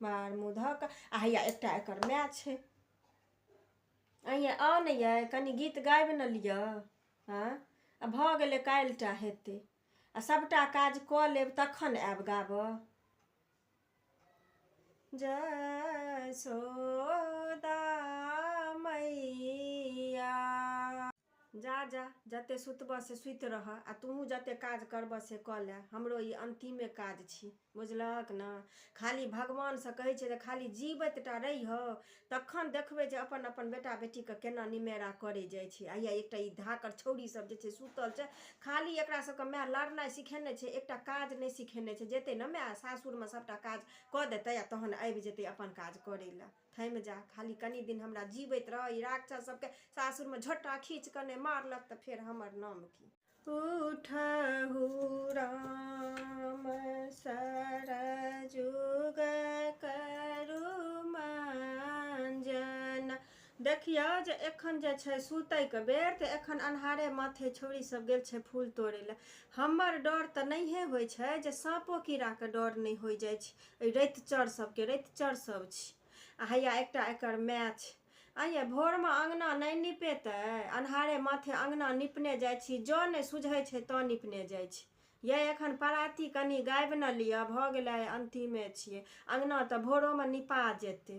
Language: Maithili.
मार मुँह धऽ कऽ आ हैया एकटा एकर माय छै अइए आउ ने यै कनि गीत गाबि ने लिअ हँ आ भऽ गेलै काल्हिटा हेतै आ सभटा काज कऽ लेब तखन आयब गाबऽ जय सोदा मैया जा जा, जते सुतबह से सुति रहह आ तूहूँ जते काज करबह से कऽ लएह। हमरो ई अन्तिमे काज छी। बुझलहक ने? खाली भगवानसँ कहै छिऐ जे खाली जीबैत टा रहिहौ, तखन देखबै जे अपन-अपन बेटा-बेटीकेँ केना निमेरा करै जाइ छी। हइया एकटा ई धाकड़ छौड़ी सभ जे छै सुतल छै, खाली एकरा सभकेँ माए लड़नाइ सिखेने छै, एकटा काज नहि सिखेने छै। जेतै ने माए सासुरमे सभटा काज कऽ देतै आ तहन आबि जेतै अपन काज करै लए। थमि जा खाली कनि दिन हमरा जीवैत रह ई राक्षस सबके सासुरमे झोटा खींच कऽ नहि मारलक तऽ फेर हमर नाम की उठहु राम सरजुग करु मंजन देखियौ जे एखन जे छै सुतैके बेर तऽ एखन अन्हारे माथे छौड़ी सब गेल छै फूल तोड़ै लए हमर डर तऽ नहिए होइ छै जे साँपो कीड़ाके डर नहि होइ जाइ छै एहि रैत चर सबके रैत चर सब छी आ हैया एकटा एकर माय छै आइए भोरमे अङ्गना नहि निपेतै अन्हारे माथे अङ्गना निपने जाइ छी जँ नहि सुझै छै तँ निपने जाइ छी ये एखन पराती कनि गाबि ने लिअ भऽ गेलै अन्तिमे छियै अङ्गना तऽ भोरोमे निपा जेतै